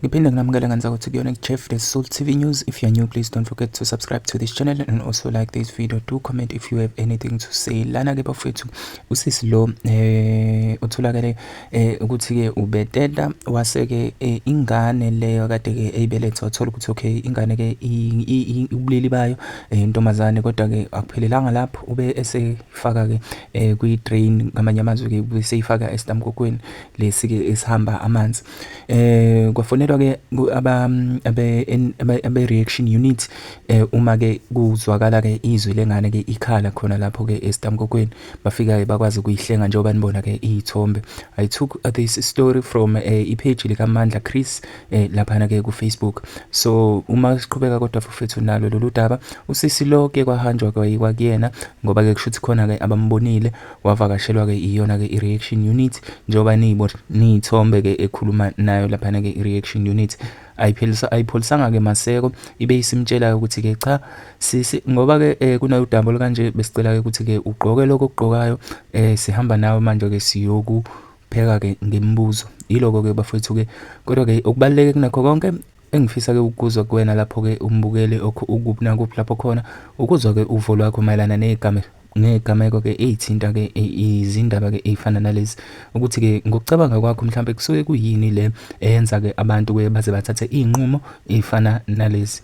Ngiphinde nginamukele ngenza ukuthi kuyona Jeff the Soul TV News. If you're new, please don't forget to subscribe to this channel and also like this video. Do comment if you have anything to say. Lana ke bafethu usisi lo eh utholakale eh ukuthi ke ubeteta wase ke eh, ingane leyo kade ke eyibeletha wathola ukuthi okay ingane ke ubulili bayo eh, intombazane kodwa ke akuphelelanga lapho ube esefaka ke eh, kwi drain ngamanye amazwi ke ube seyifaka estamkokweni lesi ke esihamba amanzi eh kwafonelwa ke aba abe reaction unit eh uma ke kuzwakala ke izwi lengane ke ikhala khona lapho ke estamkokweni bafika ke bakwazi ukuyihlenga njengoba nibona ke izithombe i took uh, this story from eh, ipage lika Mandla Chris eh, lapha ke ku Facebook so uma siqhubeka kodwa fufethu nalo lolu daba usisi lo ke kwahanjwa kwayikwa kuyena ngoba ke kushuthi khona ke abambonile wavakashelwa-ke iyona-ke i-reaction unit njengoba niyithombe-ke ekhuluma nayo laphana-ke i-reaction unit ayipholisanga-ke maseko ibe isimtshela-ke ukuthi-ke cha sisi ngoba-ke um eh, kunayo udaba olukanje besicela-ke ukuthi-ke ugqoke lokho okugqokayo um sihamba nawe manje-ke siyokupheka-ke ngemibuzo yiloko-ke bafowethu-ke kodwa-ke okubaluleke kunakho konke Engifisa-ke ukuzwa kuwena lapho-ke umbukeli ukuphi nakuphi lapho khona ukuzwa-ke uvo lwakho mayelana ney'gameko ney'gameko-ke ey'thinta-ke izindaba-ke ey'fana nalezi ukuthi-ke ngokucabanga kwakho mhlawumbe kusuke kuyini le eyenza-ke abantu-ke baze bathathe iy'nqumo ey'fana nalezi